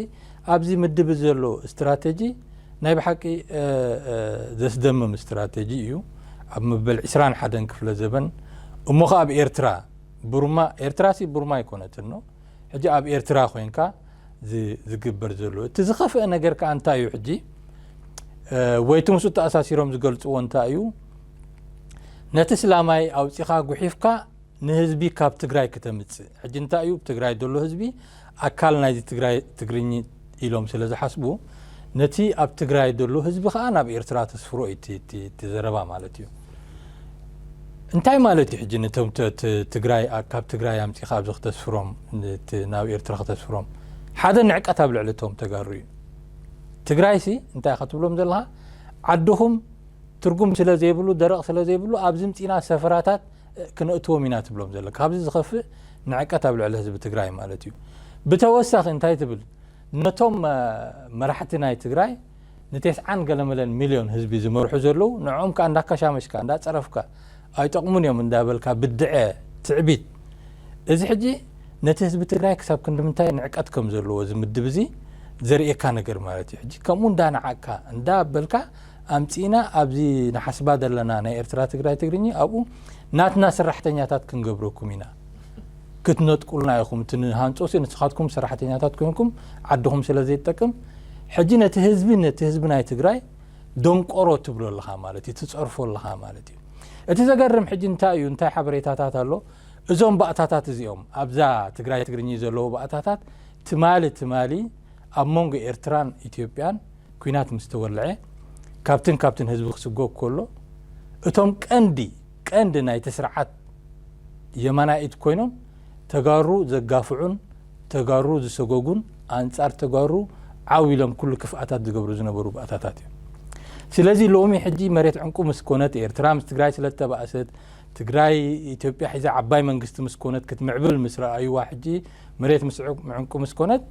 ኣብዚ ምድብ ዘሎ ስትራተጂ ናይ ብሓቂ ዘስደምም ስትራተጂ እዩ ኣብ መበል 21 ክፍለ ዘበን እሞ ከ ኣብ ኤርትራ ቡርማ ኤርትራ ሲ ቡርማ ኣይኮነትን ነው ሕጂ ኣብ ኤርትራ ኮንካ ዝግበር ዘሎ እቲ ዝኸፍአ ነገር ከኣ እንታይ እዩ ሕጂ ወይቲ ምስኡ ተኣሳሲሮም ዝገልጽዎ እንታይ እዩ ነቲ ስላማይ ኣውጺኻ ጉሒፍካ ንህዝቢ ካብ ትግራይ ክተምጽእ ሕጂ እንታይ እዩ ትግራይ ዘሎ ህዝቢ ኣካል ናይዚ ትግራይ ትግርኝ ኢሎም ስለ ዝሓስቡ ነቲ ኣብ ትግራይ ዘሎ ህዝቢ ከኣ ናብ ኤርትራ ተስፍሮ እዩ እቲ ዘረባ ማለት እዩ እንታይ ማለት እዩ ሕጂ ነቶም ትግራይ ካብ ትግራይ ኣምፂኻ ኣብዚ ክተስፍሮም ናብ ኤርትራ ክተስፍሮም ሓደ ንዕቀት ኣብ ልዕሊ እቶም ተጋሩ እዩ ትግራይ ሲ እንታይ ከትብሎም ዘለካ ዓድኹም ትርጉም ስለ ዘይብሉ ደረቕ ስለ ዘይብሉ ኣብዚ ምፂና ሰፈራታት ክነእትዎም ኢና ትብሎም ዘሎ ካብዚ ዝኸፍእ ንዕቀት ኣብ ልዕሊ ህዝቢ ትግራይ ማለት እዩ ብተወሳኺ እንታይ ትብል ነቶም መራሕቲ ናይ ትግራይ ንቴስዓን ገለመለን ሚልዮን ህዝቢ ዝመርሑ ዘለዉ ንዕኦም ከዓ እንዳከሻመሽካ እንዳፀረፍካ ኣይጠቕሙን እዮም እንዳበልካ ብድዐ ትዕቢት እዚ ሕጂ ነቲ ህዝቢ ትግራይ ክሳብ ክንዲ ምንታይ ንዕቀት ከም ዘለዎ ዝምድብ እዚ ዘርእየካ ነገር ማለት እዩ ሕጂ ከምኡ እንዳነዓቅካ እንዳበልካ ኣምጺእና ኣብዚ ንሓስባ ዘለና ናይ ኤርትራ ትግራይ ትግርኚ ኣብኡ ናትና ሰራሕተኛታት ክንገብረኩም ኢና ክትነጥቁልና ኢኹም እቲ ንሃንጾሲ ንስኻትኩም ሰራሕተኛታት ኮንኩም ዓድኹም ስለ ዘይትጠቅም ሕጂ ነቲ ህዝቢ ነቲ ህዝቢ ናይ ትግራይ ደንቆሮ ትብሎ ኣለኻ ማለት እዩ ትጸርፎ ኣለኻ ማለት እዩ እቲ ዘገርም ሕጂ እንታይ እዩ እንታይ ሓበሬታታት ኣሎ እዞም ባእታታት እዚኦም ኣብዛ ትግራይ ትግርኚ ዘለዎ ባእታታት ትማሊ ትማሊ ኣብ መንጎ ኤርትራን ኢትዮጵያን ኲናት ምስ ተወልዐ ካብትን ካብትን ህዝቢ ክስጎግ ከሎ እቶም ቀንዲ ቀንዲ ናይቲ ስርዓት የማናይ ኢድ ኮይኖም ተጋሩ ዘጋፍዑን ተጋሩ ዝሰጎጉን ኣንጻር ተጋሩ ዓው ኢሎም ኩሉ ክፍኣታት ዝገብሩ ዝነበሩ ባእታታት እዮም። ስለዚ ሎሚ ሕጂ መሬት ዕንቁ ምስ ኮነት ኤርትራ ምስ ትግራይ ስለ ዝተባእሰት ትግራይ ኢትዮጵያ ሒዛ ዓባይ መንግስቲ ምስ ኮነት ክትምዕብል ምስ ረኣዩዋ ሕጂ መሬት ምስዑብ ምዕንቁ ምስ ኮነት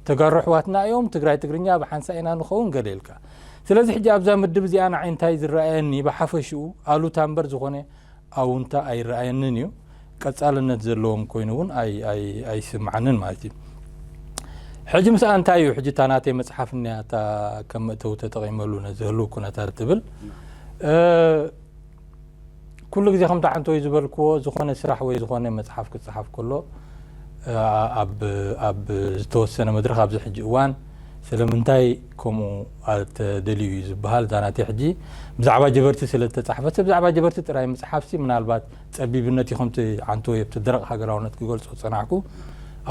ተጋሩ ኣሕዋትና እዮም ትግራይ ትግርኛ ብሓንሳእ ኢና ንኸውን ገለ ኢልካ ስለዚ ሕጂ ኣብዛ ምድብ እዚኣ ንዓይ እንታይ ዝረኣየኒ ብሓፈሽኡ ኣሉታ እምበር ዝኾነ ኣውንታ ኣይረኣየንን እዩ ቀጻልነት ዘለዎም ኮይኑ እውን ኣይስምዓንን ማለት እዩ ሕጂ ምስኣ እንታይ እዩ ሕጂ እታ ናተይ መፅሓፍ እኒያ እታ ከም መእተዊ ተጠቒመሉ ነዚ ህልው ኩነታት ትብል ኩሉ ግዜ ከምቲ ዓንተወይ ዝበልክዎ ዝኾነ ስራሕ ወይ ዝኾነ መጽሓፍ ክጽሓፍ ከሎ ኣብ ዝተወሰነ መድረኽ ኣብዚ ሕጂ እዋን ስለምንታይ ከምኡ ኣተደልዩ እዩ ዝበሃል እዛ ናተይ ሕጂ ብዛዕባ ጀበርቲ ስለ ዝተጻሕፈት ብዛዕባ ጀበርቲ ጥራይ ምጽሓፍሲ ምናልባት ጸቢብነት እዩ ከምቲ ዓንተወ ኣብቲ ደረቕ ሃገራውነት ክገልጾ ዝጸናሕኩ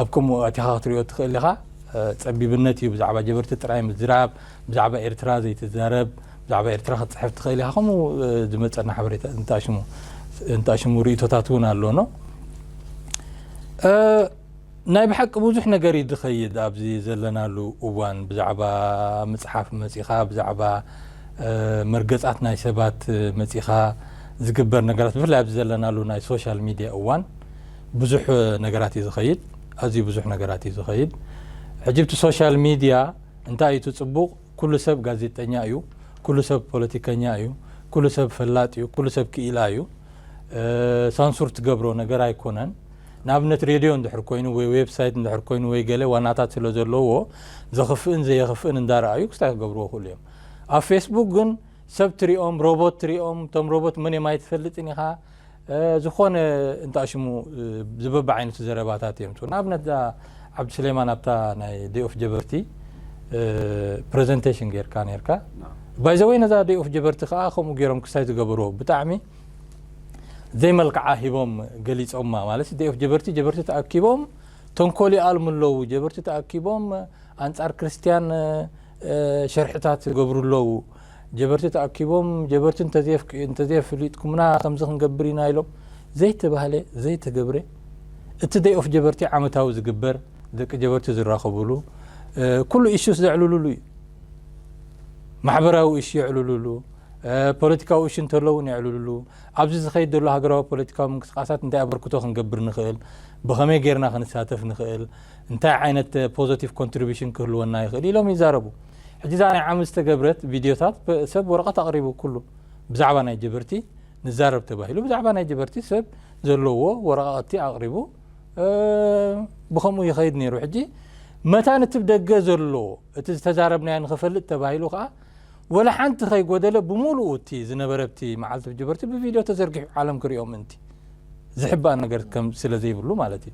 ኣብ ከምኡ ኣቲኻ ክትሪኦ ትኽእል ኢኻ ጸቢብነት እዩ ብዛዕባ ጀበርቲ ጥራይ ምዝራብ ብዛዕባ ኤርትራ ዘይትዛረብ ብዛዕባ ኤርትራ ክትጽሕፍ ትኽእል ኢኻ ከምኡ ዝመጸና ሓበሬታ እንታሽሙ እንታሽሙ ርእቶታት እውን ኣሎኖ ናይ ብሓቂ ብዙሕ ነገር እዩ ዝኸይድ ኣብዚ ዘለናሉ እዋን ብዛዕባ ምጽሓፍ መጺኻ ብዛዕባ መርገጻት ናይ ሰባት መጺኻ ዝግበር ነገራት ብፍላይ ኣብዚ ዘለናሉ ናይ ሶሻል ሚድያ እዋን ብዙሕ ነገራት እዩ ዝኸይድ ኣዝዩ ብዙሕ ነገራት እዩ ዝኸይድ ሕጂ ብቲ ሶሻል ሚድያ እንታይ እዩ እቲ ጽቡቕ ኩሉ ሰብ ጋዜጠኛ እዩ ኩሉ ሰብ ፖለቲከኛ እዩ ኩሉ ሰብ ፈላጥ እዩ ኩሉ ሰብ ክኢላ እዩ ሳንሱር ትገብሮ ነገር ኣይኮነን ንኣብነት ሬድዮ እንድሕር ኮይኑ ወይ ዌብሳይት እንድሕር ኮይኑ ወይ ገለ ዋናታት ስለ ዘለዎ ዘኽፍእን ዘየኽፍእን እንዳረኣዩ ክስታይ ክገብርዎ ይኽእሉ እዮም ኣብ ፌስቡክ ግን ሰብ ትሪኦም ሮቦት ትሪኦም እቶም ሮቦት መን እዮም ኣይትፈልጥን ኢኻ ዝኾነ እንታ ሽሙ ዝበብ ዓይነቱ ዘረባታት እዮም ትብሉ ንኣብነት እዛ ዓብዱስሌማን ኣብታ ናይ ደይ ኦፍ ጀበርቲ ፕሬዘንቴሽን ጌርካ ነርካ ባይዘወይ ነዛ ደይ ኦፍ ጀበርቲ ከዓ ከምኡ ገይሮም ክሳይ ዝገበርዎ ብጣዕሚ ዘይመልክዓ ሂቦም ገሊፆማ ማለት ደይ ኦፍ ጀበርቲ ጀበርቲ ተኣኪቦም ተንኮል ይኣልሙ ኣለዉ ጀበርቲ ተኣኪቦም ኣንፃር ክርስትያን ሸርሕታት ይገብሩ ኣለዉ ጀበርቲ ተኣኪቦም ጀበርቲ እንተዘየፍሊጥኩምና ከምዚ ክንገብር ኢና ኢሎም ዘይተባህለ ዘይተገብረ እቲ ደይ ኦፍ ጀበርቲ ዓመታዊ ዝግበር ደቂ ጀበርቲ ዝራኸብሉ ኩሉ ኢሹስ ዘዕልሉሉ እዩ ማሕበራዊ ኢሹ የዕልሉሉ ፖለቲካዊ እሹ እንተሎ እውን የዕልሉሉ ኣብዚ ዝኸይድ ዘሎ ሃገራዊ ፖለቲካዊ ምንቅስቃሳት እንታይ ኣበርክቶ ክንገብር ንኽእል ብኸመይ ጌርና ክንሳተፍ ንኽእል እንታይ ዓይነት ፖዘቲቭ ኮንትሪቢሽን ክህልወና ይኽእል ኢሎም ይዛረቡ። ሕጂ እዛ ናይ ዓሚ ዝተገብረት ቪድዮታት ሰብ ወረቐት ኣቕሪቡ ኩሉ ብዛዕባ ናይ ጀበርቲ ንዛረብ ተባሂሉ ብዛዕባ ናይ ጀበርቲ ሰብ ዘለዎ ወረቓቕቲ ኣቕሪቡ ብከምኡ ይኸይድ ነይሩ ሕጂ መታን እቲ ደገ ዘሎ እቲ ዝተዛረብናዮ ንክፈልጥ ተባሂሉ ከዓ ወላ ሓንቲ ከይጎደለ ብሙሉኡ እቲ ዝነበረ እቲ መዓልቲ ብጅበርቲ ብቪድዮ ተዘርጊሑ ዓለም ክሪኦ ምእንቲ። ዝሕባእ ነገር ከም ስለ ዘይብሉ ማለት እዩ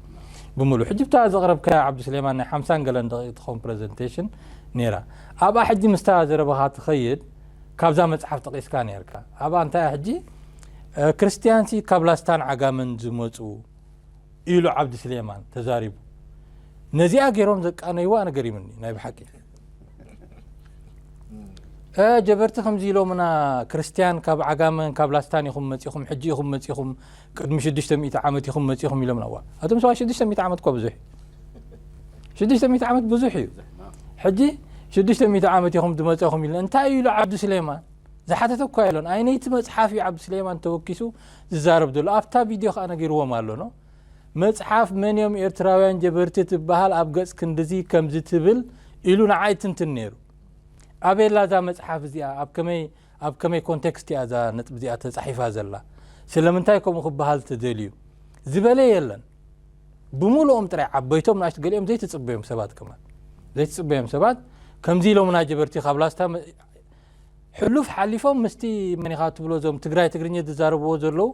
ብሙሉኡ። ሕጂ ብታ ዘቕረብካያ ዓብዱስሌማን ናይ ሓምሳን ገለን ደቒቕ ትኸውን ፕረዘንቴሽን ኔራ። ኣብኣ ሕጂ ምስታ ዘረባኻ ትኸይድ ካብዛ መጽሓፍ ጠቒስካ ኔርካ። ኣብኣ እንታይ እያ ሕጂ ክርስትያንሲ ካብ ላስታን ዓጋመን ዝመጹ ኢሉ ዓብዱስሌማን ተዛሪቡ። ነዚኣ ጌሮም ዘቃነይዋ ንገሪሙኒ ናይ ብሓቂ። ጀበርቲ ከምዚ ኢሎምና ክርስትያን ካብ ዓጋመን ካብ ላስታን ኢኹም መጺኹም ሕጂ ኢኹም መጺኹም ቅድሚ 600 ዓመት ኢኹም መጺኹም ኢሎምና ዋ ኣቶም ሰባ 600 ዓመት እኳ ብዙሕ 600 ዓመት ብዙሕ እዩ ሕጂ 600 ዓመት ኢኹም ዝመጸኹም ኢሉ እንታይ ኢሉ ዓብዱ ስሌማን ዝሓተተ እኳ የሎን ኣይነይቲ መጽሓፍ እዩ ዓብዱ ስሌማን ተወኪሱ ዝዛረብ ዘሎ ኣብታ ቪድዮ ከዓ ነጊርዎም ኣሎ ኖ መጽሓፍ መን እዮም ኤርትራውያን ጀበርቲ ትበሃል ኣብ ገጽ ክንድዚ ከምዚ ትብል ኢሉ ንዓ ይትንትን ነይሩ። ኣበይ ኣላ እዛ መጽሓፍ እዚኣ? ኣብ ከመይ ኣብ ከመይ ኮንቴክስት እያ እዛ ነጥቢ እዚኣ ተጻሒፋ ዘላ? ስለምንታይ ከምኡ ክበሃል ተደልዩ? ዝበለ የለን። ብምሉኦም ጥራይ ዓበይቶም ንኣሽቱ ገሊኦም ዘይትጽበዮም ሰባት ከማን ዘይትጽበዮም ሰባት ከምዚ ኢሎምና ጀበርቲ ካብ ላስታ ሕሉፍ ሓሊፎም ምስቲ መን ኢኻ ትብሎ እዞም ትግራይ ትግርኚ ዝዛረብዎ ዘለዉ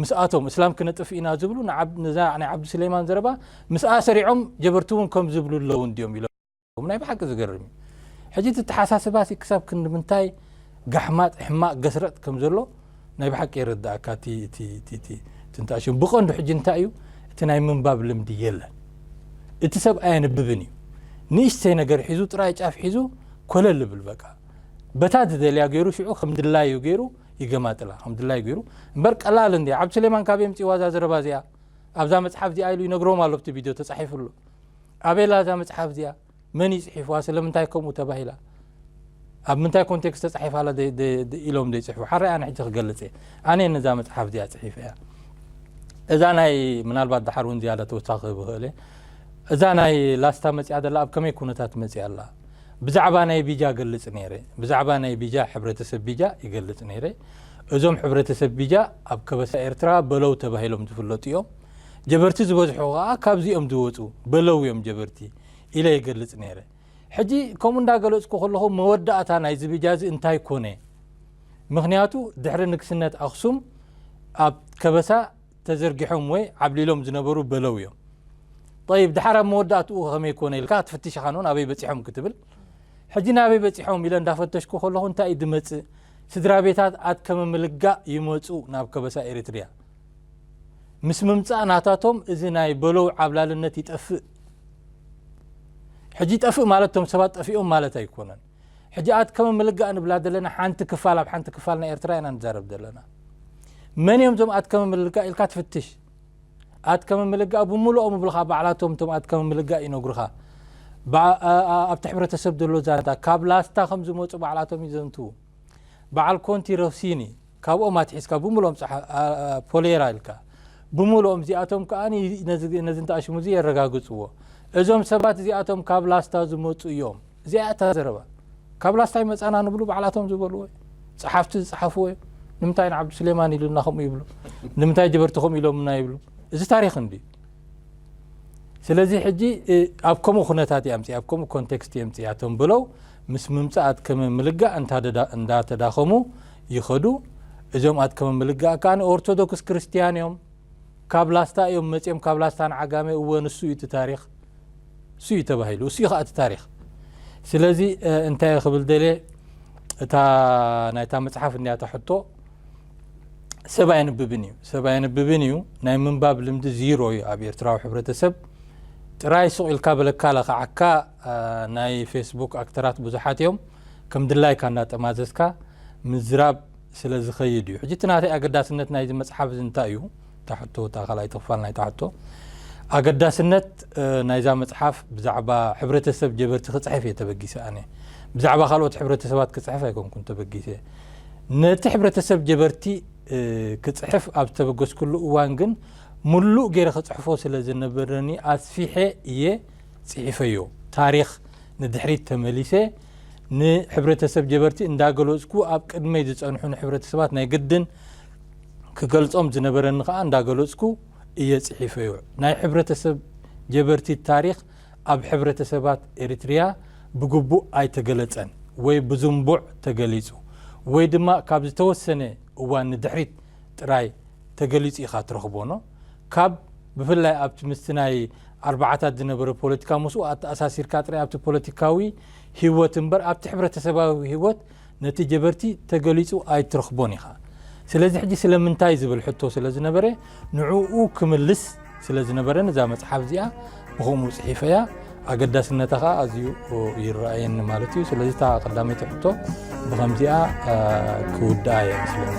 ምስኣቶም እስላም ክነጥፍ ኢና ዝብሉ ነዛ ናይ ዓብዲ ስሌማን ዘረባ ምስኣ ሰሪዖም ጀበርቲ እውን ከም ዝብሉ ኣለዉ እንድዮም ኢሎም ናይ ብሓቂ ዝገርም እዩ ሕጂ እቲ ተሓሳስባ ክሳብ ክንዲ ምንታይ ጋሕማጥ ሕማቅ ገስረጥ ከም ዘሎ ናይ ብሓቂ የረዳእካ እቲ እቲ እቲ እቲ እቲ እንታይ ሽም ብቐንዱ ሕጂ እንታይ እዩ እቲ ናይ ምንባብ ልምዲ የለን እቲ ሰብ ኣየንብብን እዩ ንእሽተይ ነገር ሒዙ ጥራይ ጫፍ ሒዙ ኮለል ልብል በቃ በታ ዝደልያ ገይሩ ሽዑ ከም ድላዩ ገይሩ ይገማጥላ ከም ድላዩ ገይሩ እምበር ቀላል እንዲ ዓብዲ ስሌማን ካብ የምፅእዋ እዛ ዘረባ እዚኣ ኣብዛ መፅሓፍ እዚኣ ኢሉ ይነግሮም ኣሎ ብቲ ቪድዮ ተፃሒፉ ኣሎ ኣቤላ እዛ መፅሓፍ እዚኣ መን እዩ ፅሒፍዋ ስለምንታይ ከምኡ ተባሂላ ኣብ ምንታይ ኮንቴክስት ተፃሒፋ ኣላ ኢሎም ዘይፅሕፉ ሓራይ ኣነ ሕጂ ክገልፅ እየ ኣነ እየ ነዛ መፅሓፍ እዚኣ ፅሒፈ እያ እዛ ናይ ምናልባት ድሓር እውን ዝያዳ ተወሳኺ ክህብ ይኽእል እየ እዛ ናይ ላስታ መፅኣ ዘላ ኣብ ከመይ ኩነታት መፅኣ ኣላ ብዛዕባ ናይ ቢጃ ገልፅ ነይረ ብዛዕባ ናይ ቢጃ ሕብረተሰብ ቢጃ ይገልፅ ነይረ እዞም ሕብረተሰብ ቢጃ ኣብ ከበሳ ኤርትራ በለው ተባሂሎም ዝፍለጡ እዮም ጀበርቲ ዝበዝሑ ከኣ ካብዚ እዮም ዝወጹ፣ በለው እዮም ጀበርቲ ኢለ ይገልጽ ነይረ። ሕጂ ከምኡ እንዳገለጽኩ ከለኹ መወዳእታ ናይዚ ብጃዚ እንታይ ኮነ? ምኽንያቱ ድሕሪ ንግስነት ኣኽሱም ኣብ ከበሳ ተዘርጊሖም ወይ ዓብሊሎም ዝነበሩ በለው እዮም። ጠይብ ድሓር ኣብ መወዳእትኡ ከመይ ኮነ ኢልካ ክትፍትሽ ኢኻ ንውን ኣበይ በጺሖም ክትብል ሕጂ ናበይ በጺሖም ኢለ እንዳፈተሽኩ ከለኹ እንታይ እዩ ዝመጽእ ስድራ ቤታት ኣትከመ ምልጋእ ይመጹ ናብ ከበሳ ኤሪትሪያ ምስ ምምጻእ ናታቶም እዚ ናይ በሎው ዓብላልነት ይጠፍእ። ሕጂ ይጠፍእ ማለት እቶም ሰባት ጠፊኦም ማለት ኣይኮነን። ሕጂ ኣትከመ ምልጋእ ንብላ ዘለና ሓንቲ ክፋል ኣብ ሓንቲ ክፋል ናይ ኤርትራ ኢና ንዛረብ ዘለና። መን እዮም እዞም ኣትከመ ምልጋእ ኢልካ ትፍትሽ። ኣትከመ ምልጋእ ብምሉኦም እብልኻ ባዕላቶም እቶም ኣትከመ ምልጋእ ይነግሩኻ። ኣብቲ ሕብረተሰብ ዘሎ ዛንታ ካብ ላስታ ከም ዝመጹ ባዕላቶም ይዘንትዉ። በዓል ኮንቲ ሮሲኒ ካብኦም ኣትሒዝካ ብምልኦም ጸሓ ፖሌራ ኢልካ ብምልኦም እዚኣቶም ከኣ ነዚ እንተኣሽሙ እዚ የረጋግጽዎ እዞም ሰባት እዚኣቶም ካብ ላስታ ዝመጹ እዮም እዚኣ እታ ዘረባ ካብ ላስታ ይመጻና ንብሉ ባዕላቶም ዝበልዎ እዩ ጸሓፍቲ ዝጸሓፍዎ እዩ ንምንታይ ንዓብዱ ስሌማን ኢሉና ከምኡ ይብሉ ንምንታይ ጀበርቲ ከምኡ ኢሎምና ይብሉ እዚ ታሪኽ እንዲ ስለዚ ሕጂ ኣብ ከምኡ ኩነታት እያ ምፅኣ ኣብ ከምኡ ኮንቴክስት እየ ምፅኣ ቶም ብለው ምስ ምምፃእ ኣትከመ ምልጋእ እንዳተዳኸሙ ይኸዱ እዞም ኣትከመ ምልጋእ ከዓ ኦርቶዶክስ ክርስትያን እዮም ካብ ላስታ እዮም መፅኦም ካብ ላስታ ንዓጋመ እወ ንሱ እዩ እቲ ታሪክ እሱ እዩ ተባሂሉ እሱ እዩ ከዓ እቲ ታሪክ ስለዚ እንታይ ክብል ደልየ እታ ናይታ መፅሓፍ እኒያታ ሕቶ ሰብ ኣየንብብን እዩ ሰብ ኣየንብብን እዩ ናይ ምንባብ ልምዲ ዚሮ እዩ ኣብ ኤርትራዊ ሕብረተሰብ ጥራይ ሱቕ ኢልካ በለካ ለኸዓካ ናይ ፌስቡክ ኣክተራት ብዙሓት እዮም ከም ድላይካ እናጠማዘዝካ ምዝራብ ስለ ዝኸይድ እዩ ሕጂ እቲ ናተይ ኣገዳስነት ናይዚ መፅሓፍ እዚ እንታይ እዩ እታ ሕቶ እታ ካልኣይቲ ክፋል ናይታ ሕቶ ኣገዳስነት ናይዛ መጽሓፍ ብዛዕባ ሕብረተሰብ ጀበርቲ ክጽሕፍ እየ ተበጊሰ ኣነ ብዛዕባ ካልኦት ሕብረተሰባት ክጽሕፍ ኣይኮንኩን ተበጊሰ ነቲ ሕብረተሰብ ጀበርቲ ክጽሕፍ ኣብ ዝተበገስኩሉ እዋን ግን ምሉእ ገይረ ክጽሕፎ ስለ ዝነበረኒ ኣስፊሐ እየ ጽሒፈዮ ታሪክ ንድሕሪት ተመሊሰ ንሕብረተሰብ ጀበርቲ እንዳገለጽኩ ኣብ ቅድመይ ዝጸንሑ ንሕብረተሰባት ናይ ግድን ክገልጾም ዝነበረኒ ከኣ እንዳገለጽኩ እየ ጽሒፈዮ። ናይ ሕብረተሰብ ጀበርቲ ታሪኽ ኣብ ሕብረተሰባት ኤሪትሪያ ብግቡእ ኣይተገለጸን ወይ ብዙንቡዕ ተገሊጹ ወይ ድማ ካብ ዝተወሰነ እዋን ንድሕሪት ጥራይ ተገሊጹ ኢኻ ትረኽቦ ን ካብ ብፍላይ ኣብቲ ምስቲ ናይ ኣርባዓታት ዝነበረ ፖለቲካ ምስኡ ኣተኣሳሲርካ ጥራይ ኣብቲ ፖለቲካዊ ሂወት እምበር ኣብቲ ሕብረተሰባዊ ሂወት ነቲ ጀበርቲ ተገሊጹ ኣይትረኽቦን ኢኻ። ስለዚ ሕጂ ስለምንታይ ዝብል ሕቶ ስለ ዝነበረ ንዕኡ ክምልስ ስለ ዝነበረኒ እዛ መጽሓፍ እዚኣ ብኸምኡ ጽሒፈያ ኣገዳስነታ ከዓ ኣዝዩ ይረኣየኒ ማለት እዩ። ስለዚ እታ ቀዳመይቲ ሕቶ ብኸምዚኣ ክውድኣ እየ ምስለኒ።